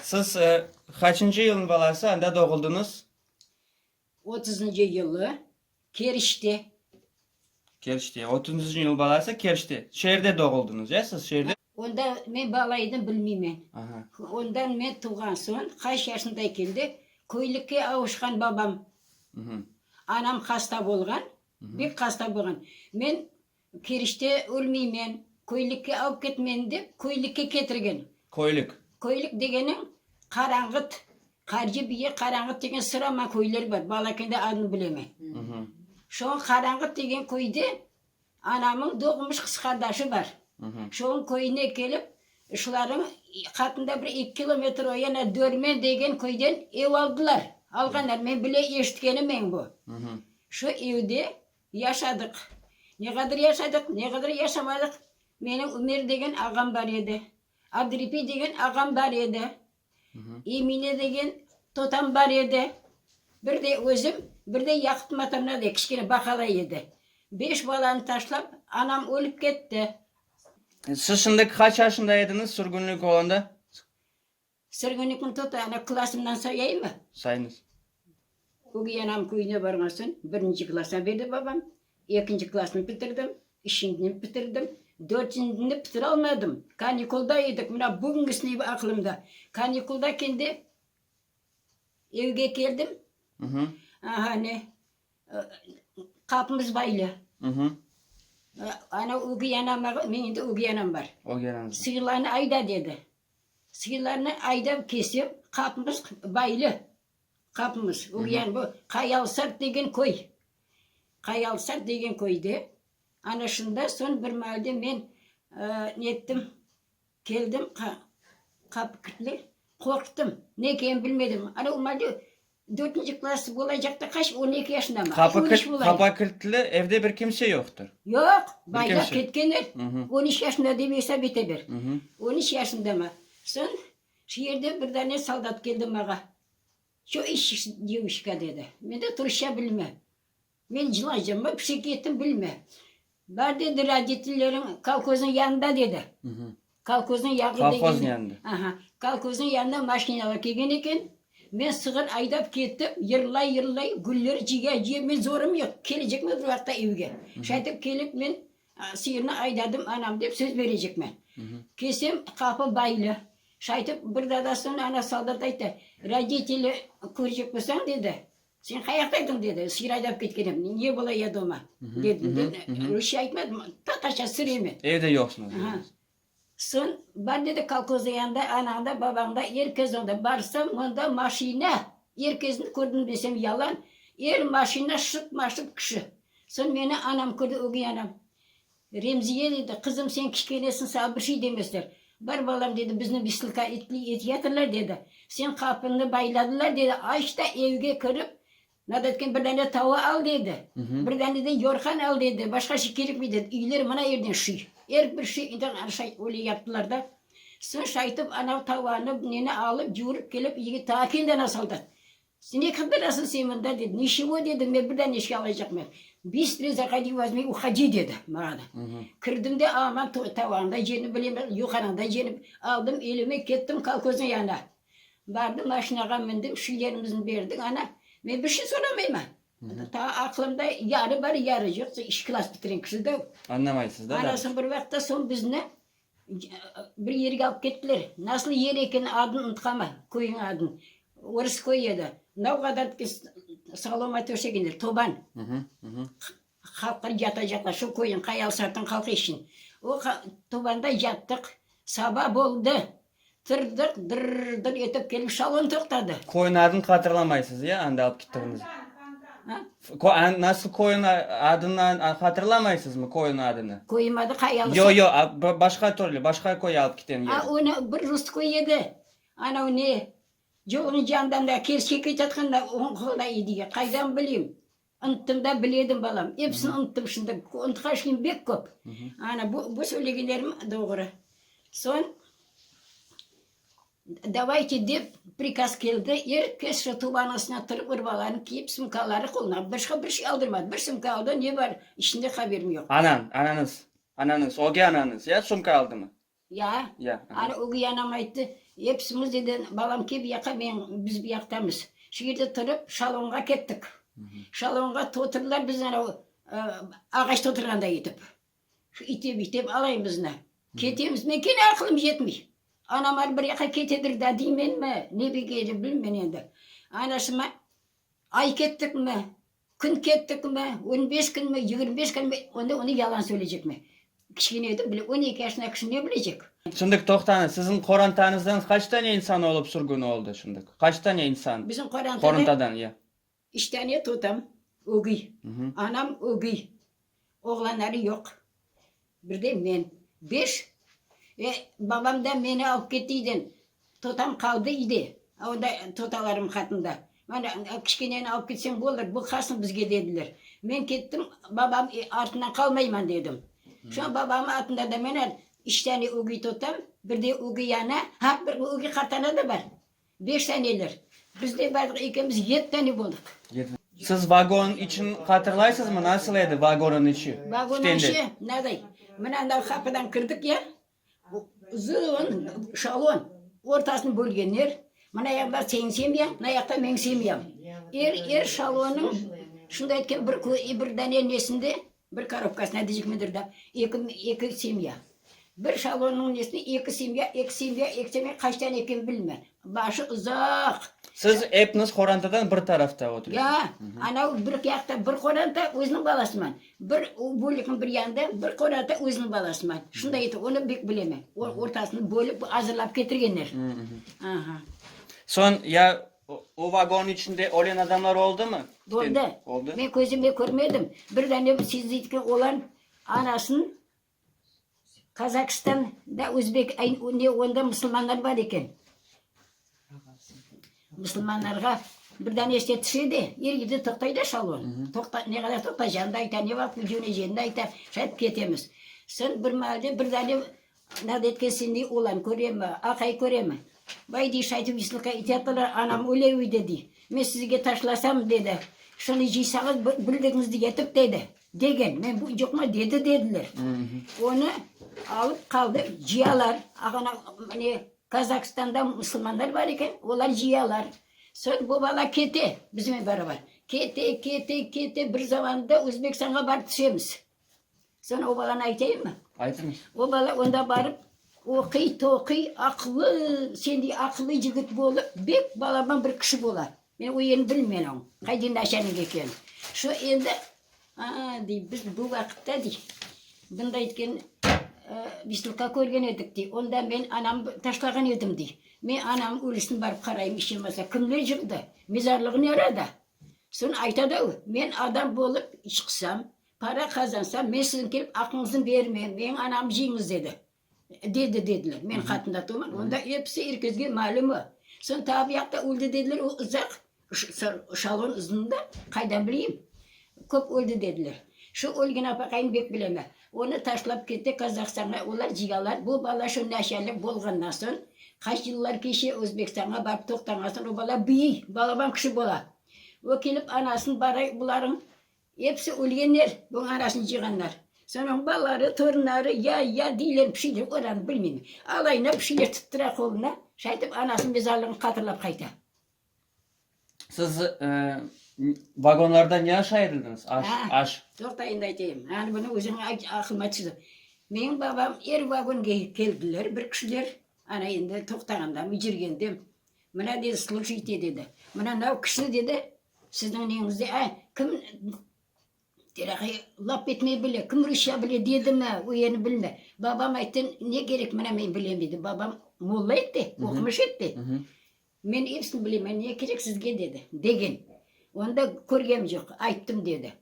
Siz qaçıncı yılnıñ balası, anda doğuldıñız? Otuzıncı yılı, Kerçte. Kerçte, otuzıncı yıl balası, Kerçte. Şeerde doğuldıñız, ya siz, şeerde? Onda men bala edim, bilmeymen. Aha. Ondan men tuvğan soñ, qaç yaşında keldi, köylikke avuşqan babam. Mhı. Anam hasta bolğan, bek hasta bolğan. Men Kirişte ölmeymen, köylikke alıp ket meni dep, köylikke ketirgen. Köylik. Köylik degeniñ, Qaranğıt, Qarcı biye Qaranğıt degen sıraman köyler bar, balakende adını bilemen. Şoñ Qaranğıt degen köyde anamıñ doğmuş qız qardaşı bar. Şoñ köyüne kelip, şularıñ qatında bir eki kilometr o yana Dörmen degen köyden ev aldılar, alğanlar, men bile eşitkenim eñ bu. Şu evde Yaşadıq. Ne qadır yaşadıq, ne qadır yaşamadıq, menim Ümer degen ağam bar edi, Adripi degen ağam bar edi, Emine degen totam bar edi, bir de özüm, bir de Yaqıp matamna de kişkene baqala edi. Beş balanı taşlap, anam ölip ketti. Siz şimdi qaç yaşında ediñiz sürgünlik olanda? Sırğını kim tuta, ana, klasımdan sayayıñmı? Sayıñız. Ögey anam köyüne barğan soñ birinci klasnı berdi babam, ekinci klasnı bitirdim, üçüncini bitirdim, dörtüncini bitiralmadım, kanikulda edik, mına bugüngisi aqlımda. Kanikulda kendi evge keldim, aha, ne, qapımız baylı. Ana, ögey anam, men endi ögey anam bar. Ögey ananız. Sıyırlarnı ayda, dedi. Sığırlarnı aydav kesip, qapımız baylı. Qapımız, o yani bu Qayalsart degen köy. Qayalsart degen köyde. Ana şunda soñ bir maalde men nettim, keldim, qapı kilitli, qorqtım. Ne ekenin bilmedim. Ana o maalde Dörtünci klass olacaqta qaç, on eki yaşındamı? Qapı On üç kilit, olayım. qapa kilitli, evde bir kimse yoqtır. Yoq, baylap kimse. ketkenler. Mhı. On üç yaşında dep esap ete ber. Mhı. On üç yaşındamı? Soñ şu yerden bir dane soldat keldi maña. Ço işçisiz, devuşka? dedi. Men de, turuşça bilmem. Men cılaycam, bir şey kettim bilme. Bar dedi, roditleriñ kolhoznıñ yanında dedi. Kolhoznıñ yağı degende. Kolhoz yanında. Aha. Kolhoznıñ yanına maşinalar kelgen eken. Men sığır aydap kettim, yırlay-yırlay, güller ciya-ciya, men zorım yoq, kelecekmen bir vaqıtta evge. Şaytep kelip men sıyırnı aydadım anam dep söz berecekmen. Kelsem, qapı baylı. Şaytep bir dadasına ana soldat ayttı, roditeli körecek bolsañ dedi, Sen qayaqta ediñ? dedi. Sır aydap ketken edim. Ne bola ya doma? dedim de, rusça aytmadım, tatarça sır eme. Evde yoqsıñız dediniz. Soñ, bar, dedi, kolhozda yanında, anañ da, babañ da, er kes onda. Barsam, onda maşina, er kesni kördim desem yalan, er maşina şıp-ma-şıp kişi. Soñ meni anam kördi, ögey anam. Remziye dedi, qızım, sen kişkenesiñ, saña bir şey demesler. Bar, balam, dedi, bizni vislıka etyatırlar, dedi, sen qapıñnı bayladılar, dedi, aç da evge kirip, nada etken bir dane tava al, dedi, bir dane de yorğan al, dedi, başqa şey kerekmey, dedi, üyler mına yerden şiy, er bir şiy, indi ana şay, öyle yaptılar da. Soñ şaytub anav tavanı, neni alıp, cuvurıp kelip, yigit taa kendi ana saldı. Sen ne qıdırasıñ sen mında? dedi. Ne çego? dedim. Men bir dane işke alaycaqmen. Bistrıy zahodi, vozmi, uhodi, dedi maña da. Kirdim de, aman tavağında cenip bilemen, yuqarında cenip aldım elime, kettim kolhozniñ yanına. Bardım, maşinağa mindim, şu yerimizni berdi, ana, men bir şey soramayman. Tağı aqlımda yarı bar, yarı yoq, ikinci klass bitiren kişi da o. Añlamaysız da, da. Anasını bir vaqıtta, soñ bizni Bir yerge alıp kettiler. Nasıl yer ekeni, adını unutamam, köyniñ adını. Orıs köyü edi. Navğa adarıp soloma töşek ediler, toban. Halqlar yatacaqlar, şu köyniñ, Qayalısartıñ halqı içün. O tobanda yattıq. Saba oldı, Tırdık, dırrrdır etip kelip şalon toqtadı. Köyün adını hatırlamaysız, ya, anda alıp gittiğiniz? Ha? Kö- Nasıl köyün a- adını a- hatırlamaysızmı, köyün adını? Köyüm adı Qayalı. Yo, yo, a- ba- başqa türlü, başqa köy alıp giten Ha, yeri. onu bir rus köyü edi. Anav ne? Yolun yandan da kerçek keçatqanda oñqola edi ya, qaydan bileyim? Unttım da, biledim, balam. Episini unttım şimdi. Unutqan şeyim bek köp. Ana, bu, bu söylegenlerim doğru. Soñ, davayte dep prikaz keldi, er kes sotuv anasına turıp, urbalarını kiyip, sumkaları qoluna. Başqa bir şey aldırmadı. Bir sumka aldı, ne bar içinde, haberim yoq. Anañ, anañız, anañız, öge anañız, ya, sumka aldımı? Ya, anı ögey anam ayttı, episimiz dedi, balam kel buyaqa, men, biz buyaqtamız. Şu yerde turıp, şalonğa kettik. Şalonğa toturdılar bizni anau ağaçta oturğanda etip. Şu itep, itep alayımıznı. Ketemiz, men kene aqılım yetmey. Anam anı bir yaqa ketedir da deymenmi, ne bileyim, bilmen endi. Anasıma, ay kettikmi, Kün kettikmi, on beş künmi, yigirmi beş künmi, onda onı yalan söyleycekmi? Kiçkene edim, bile, on eki yaşına kişi ne bilecek? Şimdi toqtañız, siziñ qorantanızdan qaç tane insan olıp sürgün oldı şimdi? Qaç tane insan? Bizim qorantadan? Qorantadan, ya. Üç tane totam ögey, anam ögey, Oğlanları yoq. Bir de men. Beş. Ve babam da meni alıp ketti üyden. Totam qaldı üyde. Onda totalarım qatında. Mana, kişkeneni alıp ketseñ bolar, baqarsıñ bizge, dediler. Men kettim, babam artından qalmayman, dedim. Soñ babamnıñ atında da menen üç tane ögey totam, bir de ögey ana, ha, bir ögey qartana da bar. Beş taneler. Bizden bardıq ekimiz yet tane boldıq. Siz vagon içün hatırlaysızmı, nasıl edi vagonıñ içi? Vagonıñ içi naday, mına anav qapıdan kirdik ya, uzun şalon, ortasını bölgenler, mına yaqta señ semya, mına yaqta meñ semyam. Er şalonıñ şunday etken bir dane nesinde, Bir korobkasına dicikmedir da, eki, eki semya. Bir şalonnıñ nesine eki semya, eki semya, eki semya, qaç tane eken bilmen. Başı uzaq. Siz epniz qorantadan bir tarafta oturesiz? Ya, anav bir yaqta bir qoranta, özüniñ balasıman, bir o bölükniñ bir yanında bir qoranta, özüniñ balasıman. Şunday eter, onı bek bilemen. O, ortasını bölip, azırlap ketirgenler. Aha. Soñ ya O vagonıñ içinde ölen adamlar oldumı? Oldı. Oldı. Men közümle körmedim. Bir dane bu siz deytken oğlan anasın Kazakstanda özbek, ne onda musulmanlar bar eken. Musulmanlarğa bir dane işte tişe de, er gide toqtay da şalon. Toqta, ne qadar toqtaycağını da ayta, ne vaqıt küdüvneceğini de ayta, şayet ketemiz. Soñ bir mahallede bir dane Anad etkesinde olam köremi, aqay köremi? Bay deyiş aytıp vislıqqa etyattılar, anam öyle uydı, dey. Men sizge taşlasam, dedi, şunı cıysañız, bir güldigiñizdi yetip, dedi, degen. Men bu cıqma dedi, dediler. Onı alıp qaldı cıyalar, ağana, mıne, Kazakstanda musulmanlar bar eken, olar cıyalar. Soñ bu bala kete, bizmen barabar. Kete, kete, kete, bir zamanda Özbekstanğa barıp tüşemiz. Sana o balanı aytayım mı? Aytıñız. O bala onda barıp oquy, toquy, aqlı, sendey aqlı yigit bolıp, bek balaban bir kişi bola. Men o yerini bilmen oñ, qayda naşanik eken. Şu endi, a, dey, biz bu vaqıtta, dey, bunda etken vıstupka körgen edik, dey, onda men anam taşlağan edim, dey. Men anamnıñ ölüsine barıp qarayım, iş yemasa, kimler yıqtı, mezarlığı nerede? Soñ ayta da o, men adam bolıp çıqsam, Para qazansam, men siziñ kelip aqıñıznı bermem, meñ anamnı cıñız, dedi. Dedi, dediler. Men qatında turman, onda episi er kezge malüm o. Soñ tavbi yaqta öldi, dediler, o uzaq, şalon uzun da, qaydan bileyim. Köp öldi, dediler. Şu ölgen apaqayım bek bilemen. Onı taşlap kete Qazahstanğa, olar cıyalar. Bu bala şu naşalıq bolğandan soñ, qaç yıllar keçe, Özbekistanğa barıp toqtanğan soñ, o bala büyüy, balaban kişi bola. O kelip anasını baray, bularnıñ Episi ölgenler, bu arasını cıyğanlar. Sonrañı balaları, torunları, ya, ya deyler, bir şey deyler, olarnı bilmeyim. Alayına bir şeyler tuttıra qoluna, şaytip anasınıñ mezarlığını hatırlap qayta. Siz vagonlarda ne aş ayırıldınız? Aş, aş. Toqta, endi aytayım. Anı, bunı özüniñ aqlıma tüşüdi. Menim babam er vagonğa keldiler bir kişiler, ana endi toqtağandamı, yürgendem, mına dedi, slujite dedi, mına nav kişini dedi, Sizniñ neñizde â? Kim Terakı lap etmey bile, kim rusça bile dedimi, o yerni bilme. Babam ayttı, ne gerek, mına men bilem, dedi. Babam molla edi, oqumış edi. Men epsini bilemen, ne kerek sizge, dedi. Degen. Onda körgem yoq, ayttım, dedi.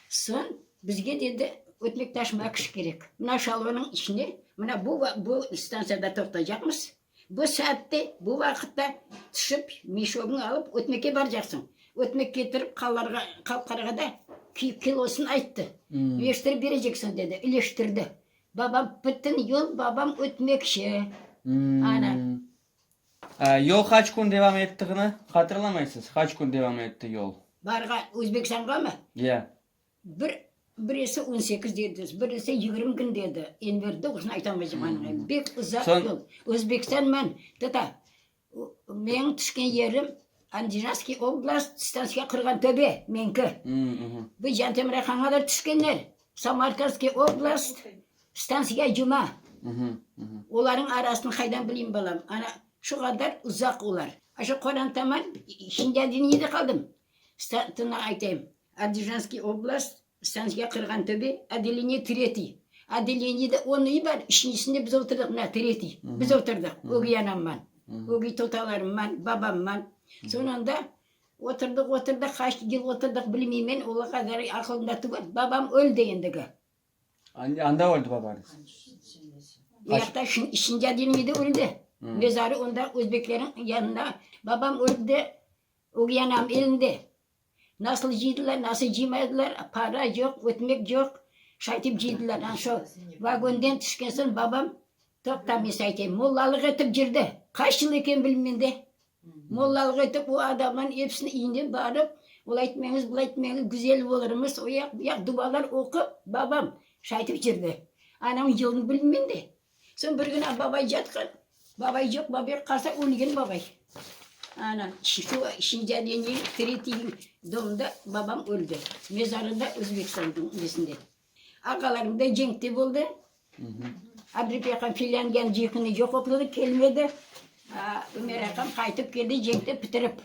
Soñ bizge dedi, ötmektaş Makuş kerek. Mına şalvanıñ içine, mına bu, bu stantsiyada toqtaycaqmız, Bu saatte, bu vaqıtta tüşip, meşogıñ alıp ötmeke barcaqsıñ. Ötmek ketirip qalarğa, qal qarğada kilosın ayttı. Üleştirip bereceksin dedi. Üleştirdi. Babam, bütün yol babam ötmekçi. Ana. Yol qaç kün devam ettiğini hatırlamaysız? Qaç kün devam etti yol? Barğa, Özbekistanğamı? Ya. Bir, birisi on sekiz dedi, birisi yigirmi kün dedi. Enver doğrusını aytamaycam anıgı, bek uzaq Soñ- yol. Özbekistan men, teta, o, meñ tüşken yerim Andijanskiy oblast, stansiya Qırğantöbe, meñki. Bu Jantemir hanğa da tüşkenler, Samarkandskiy oblast, stansiya Cuma. Olarnıñ arasını qaydan bileyim, balam? Ana, şu qadar uzaq olar. Aşı Qorantaman, Şindyadiniyede qaldım. Startını aytayım, Adijanskiy oblast, stantsiya Qırğantöbe, odeleniye tretiy. Odeleniyede on üy bar, üçüncüsinde biz oturdıq, mına, tretiy, biz oturdıq, ögey anamman, ögey totalarımman, babamman. Sonunda oturdıq, oturdıq, qaç yıl oturdıq, bilmeymen, ola qadar aqılımda tuvır, babam öldi endigi. Anda öldi babañız? Uyaqta, üçünci odeleniyede öldi. Mezarı onda, özbekleriñ yanında. Babam öldi, Ögey anam elinde. Nasıl cıydılar, nasıl cıymaydılar, para yoq, ötmek yoq, şaytip cıydılar. Ana şol vagonden tüşken soñ babam, toqta, men saña aytayım, mollalıq etip yürdi. Qaç yıl eken bilmeyim men de. Mollalıq etip o adamlarnıñ episini iyne barıp, olay etmeñiz, bulay etmeñiz, güzel olurmız, oyaq, buyaq dualar oqup, babam şaytip yürdi. Anamnıñ yılını bilmeyim men de. Soñ bir kün babay yatqan, babay yoq, babay qalsa ölgen babay. Ana, şu şincalenniñ tretiyiñ domda babam öldi, mezarı da Özbekistanniñ nesinde. Ağalarım da cenkte boldı, Abrif aqam filan yan cihını yoqoqladı, kelmedi, Ömer aqam qaytıp keldi cenkte pitirip.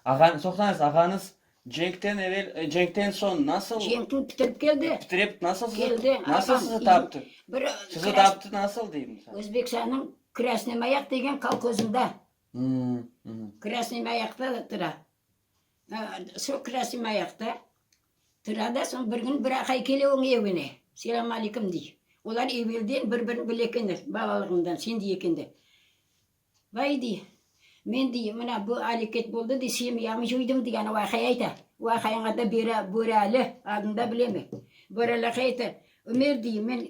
Ağan, toqtañız, ağañız cenkten evel, cenkten soñ nasıl? Cenkni pitirip keldi. Pitirip nasıl sizi, Keldi, nasıl ağam, sizi taptı? bir Sizi kras- taptı nasıl deyim? sen? Özbekistannıñ Krasnıy Mayak degen kolhozında, Hmm, mhm. Krasnıy Mayakta da tura. Ha, Şu Krasnıy Mayakta tura da, soñ bir kün bir aqay kele oñ evine, selam aleykum dey. Olar evelden bir-birini bile ekenler, balalığından, şimdi ekenler. Vay dey, men dey, mına bu aleket boldı dey, semyamı cuydım degen vaqia ayta. Vaqianıñ adı Bera, Börali, adını da bilemen. Börali aka ayta, Ömer dey, men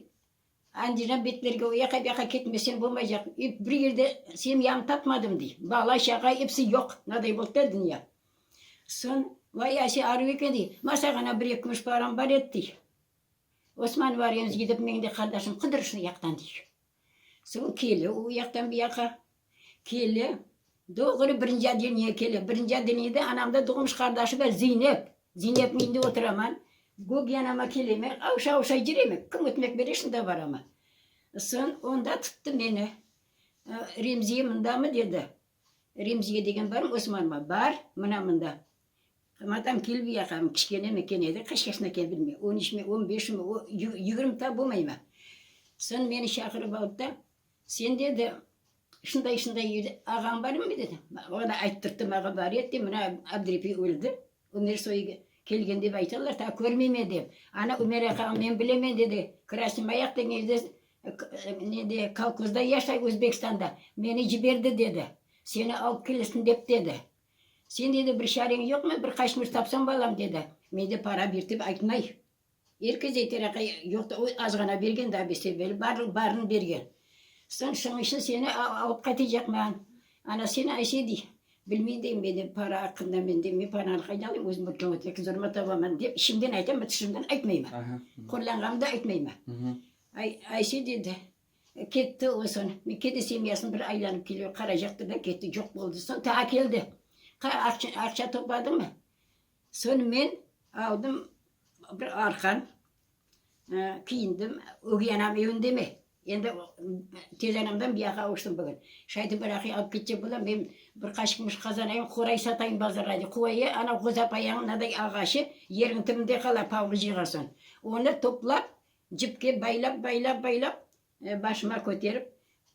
Andijan betlerge o yaqa, bu yaqa ketmesem bolmaycaq, ep bir yerde semyamı tapmadım dey, bala, şağa episi yoq, mınaday boldı da dünya. Soñ, vay ase arıp eken dey, masağana bir-eki kümüş param bar edi dey. Osman var emiz gidip, meñ de qardaşım Qıdırışnı yaqtan dey. Soñ kele o yaqtan bu yaqa, kele, doğru birinci oddelniye kele. Birinci oddelniyede anamda doğmuş qardaşı bar Zeynep. Zeynepniñ evinde oturaman. Gök yanıma keleme, avşa-avşa yüreme, kim ötmek bere, şunda baraman. Soñ onda tuttu meni, Remziye mındamı? dedi. Remziye degen barmı, Osmanmı? Bar, mına mında. Madam kelip yaqam, kişkenemi, kene de qaçqasına keldirme. On üçmi, on beşmi, o, yigirmi ta bolmayma. Soñ meni şaqırıp aldı da, Sen, dedi, şunday-şunday evde ağañ barmı? dedi. Oña ayttırttım, ağa bar edi, mına Abdrepi öldi. Ümer soyıge kelgen dep aytalar, ta körmeymen dep. Ana Ümer aqağa men bilemen dedi, Krasnımayaq degen yerde ne de, kolkozda yaşay, Özbekistanda. Meni ciberdi dedi. Seni alıp kelesin dep dedi. Sen dedi bir çareñ yoqmı, bir qaçmır tapsañ balam dedi. Mende para bir dep aytmay. Erkece tereka yoq da, o azğana bergen daa biz serberi, barlıq barını bergen. Soñ şoñ içün seni alıp qaytacaqman. Ana seni Ayşe dey. Bilmeyim dey men de para aqqında men de, men paranı qaydan alayım, özüm bir kâğıt yoki zoruma tabaman dep içimden aytam, tışımdan aytmayman. Qorlanğanımda aytmayman. Ay, Ayşe dedi, ketti o soñ. Men kene semyasını bir aylanıp kele, qaracaqtı da ketti, coq boldı. Soñ taa keldi. Qa, aqça, aqça topladıñmı? Soñ men aldım bir arqan, kiyindim, ögey anam evinde mi? Endi tez anamdan biyağa uçtım bugün. Şaydı bir aqay alıp ketecek bolam, men bir qaşıq mışıq qazanayım, qoray satayım bazarğa dep. Qoyı ana qozapayañ mınaday ağaçı yerniñ tibinde qala, pavlı cıyğa soñ. Onı toplap, cipke baylap, baylap, baylap, başıma köterip,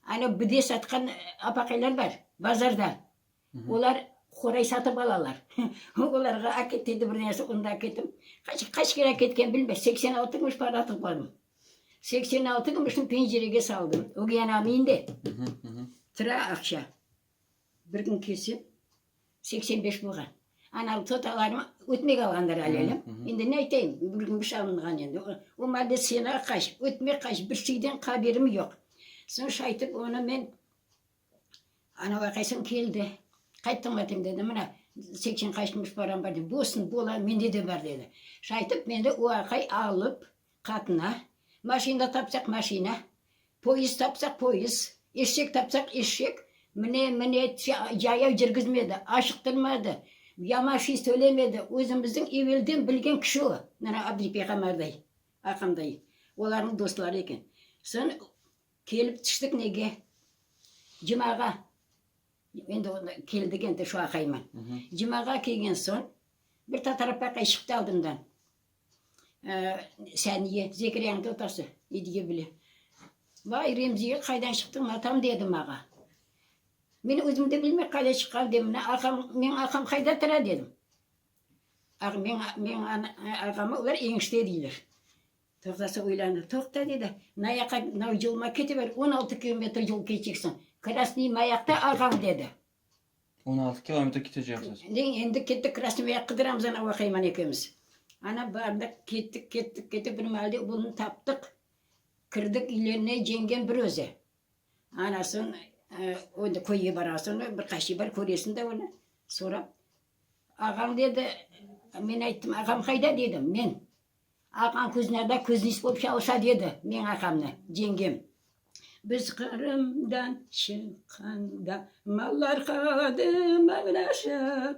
ana bide satqan apaqaylar bar, bazarda. Olar qoray satıp alalar. Olarğa aket dedi bir nesi, onda aketim. Qaç, qaç kere aketken bilmez, seksen altı kümüş para atıp bardım. Seksen altı kümüşni pencerege saldım, ögey anam indi. Tıra aqşa. Bir kün kelsem, seksen beş bolğan. Ana totalarım ötmek alğanlar alâlem. Endi ne aytayım, bir kümüş alınğan endi. O malde sena qaç, ötmek qaç, bir şeyden haberim yoq. Soñ şaytıp, onı men Ana vaqayısam keldi. Qayttım etim dedi, mına, seksen qaçmış param bar dedi. Bolsun, bola, mende de bar dedi. Şunı aytıp, meni o aqay alıp, qatına, maşina tapsaq, maşina, poyezd tapsaq, poyezd, eşek tapsaq, eşek, mine, mine, yaya kirgizmedi, aşıqtırmadı, yamaşıy söylemedi, özümizniñ evelden bilgen kişi o, mına, Abdıripey Qamar dayı, aqam dayı, olarnıñ dostları eken. Soñ. Kelip tüştik nege? Cumağa, endi onda keldik endi şu aqayma. Cumağa kelgen soñ, bir tatarapaqay çıqtı aldımdan. Saniye, Zekeriyanıñ totası, İdge bile. Vay, Remziye, qaydan çıqtıñ atam? dedi maña. Men özüm de bilmey qayda çıqqan dedim. Mına aqam, meñ aqam qayda tura? dedim. Meñ aqamı olar eñişte deyler. Tazası uylandı. Toqta, dedi, na yaqa, na yoluma ketiber, on altı kilometr yol keçeksiñ. Krasnıy mayaqta, ağam, dedi. On altı kilometr keteceksiz? Deñ, endi kettik, Krasnıy mayaq qıdıramız, ana, Vahayman ekemiz. Ana, bardıq, kettik, kettik, kettik, bir maalde bunı taptıq. Kirdik üylerine, cengem bir özü. Anasın, endi köyge barasın, bir qaşiy bar, köresiñ de onı, sorap. Ağam, dedi, men ayttım, ağam qayda, dedim, men. Aqam kuznâda kuzniç bolıp çalışadı edi, meñ aqamnı cengem. Biz Qırımdan çıqqanda mallar qaldı mıñraşıp,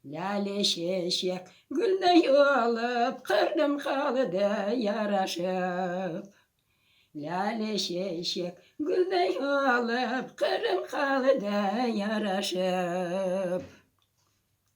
lâle çeçek gülney olıp Qırım qaldı yaraşıp. Lâle çeçek gülney olıp Qırım qaldı yaraşıp.